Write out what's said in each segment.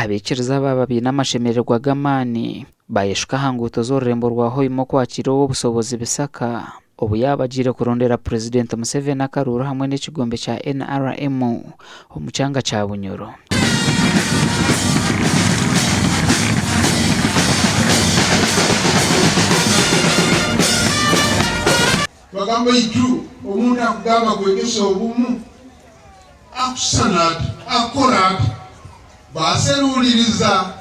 Abaikiriza abaaba baine amashemererwa g'amaani baayeshuka aha nguuto z'orurembo rwa Hoima okwakiira ow'obushobozi Bisaka obu yaabagiire kurondera Purezidenti Museveni akaruuru hamwe n'ekigombe kya NRM omu kyanga kya Bunyoro. Bagamba itwe omuntu akugamba kwegyesa obumu. Akushushana ati, akukora ati. Baaseruuririza.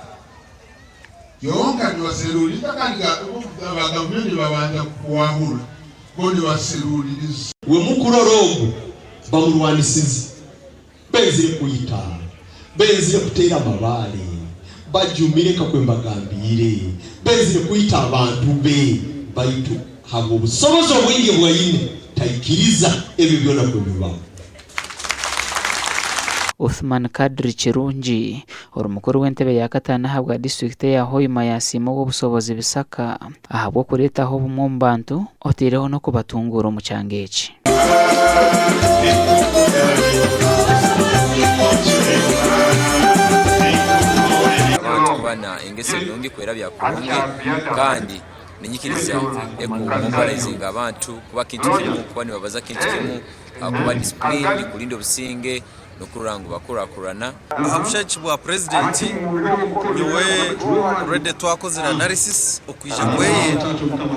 Kyonka nibaseruuririza kandi ga abagabire nibabanza kukwahura. Bo nibaseruuririza. We mukurora ogu bamurwanisize. Benzire kwita. Benzire kuteera amabaare. Bajumire nka kwe mbagambiire. Benzire kwita abantu be. Baitu habw'obusobozi obwingi obu aine, taikiriza ebyo byona kubibaho. Uthman Kadri Kirungi, ori mukuru w'entebe ya kataano ahabwa disiturikiti eya Hoima yaasiima ow'obushobozi Bisaka ahabw'okureetaho obumwe omu bantu oteireho n'okubatunguura omu kyanga eki. Abantu kuba na engeso nungi kwerabya kurungi kandi ninyikiriza eku mobilizinga abantu kuba kintu kimu kuba nibabaza kintu kimu ahakuba disipuriini nikurinda obusinge n'okurora ngu bakurakurana. Aha bushabitsi bwa purezidenti, nyowe already twakozire analysis okwija ngu eye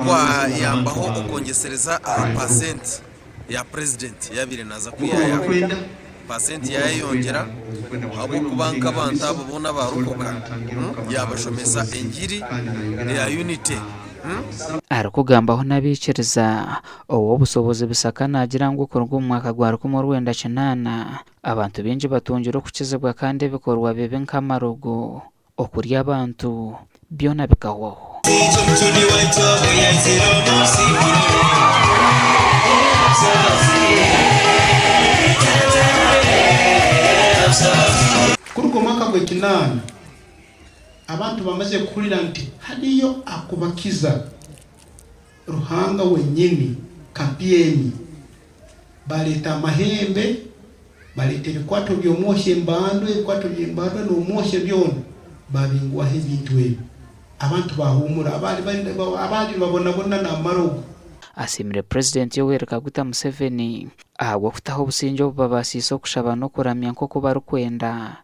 kwayambaho okwongyesereza aha percent ya purezidenti eyabaire naaza kwihayaho. Percent yaayeyongyera ahabw'okuba nk'abantu abo boona baarokoka, yaabashomesa engiri eya unity. Arikugambaho n'abaikiriza Ow'obushobozi Bisaka naagira ngu kuruga omu mwaka gwa rukumi orwenda kinaana, abantu baingi batungire okukizibwa kandi ebikorwa bibi nk'amarogo, okurya abantu, byona bikahwaho. Kuruga omwaka gw'ekinaana, abantu bamaze kuhurira nti hariyo akubakiza. Ruhanga wenyini, kapyeni. Baleeta amahembe, baleeta ebikwato by'omwohi, embandwa, ebikwato by'embandwa n'omwohi byona, babingwaho ebintu ebyo. Abantu bahuumura, abaali nibabonabona naamara ogu. Asiimire President Yoweri Kaguta Museveni ahabw'okutaho obusingye obu babaasiise okushaba n'okuramya nk'oku barikwenda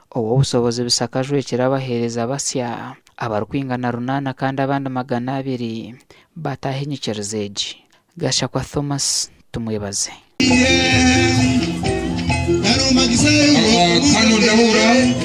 Ow'obushobozi bushakajwekire abaheereza basya abarikwingana runaana kandi abandi magana abiri bataaha enyikiriza egi. Gashakwa Thomas tumwebaze.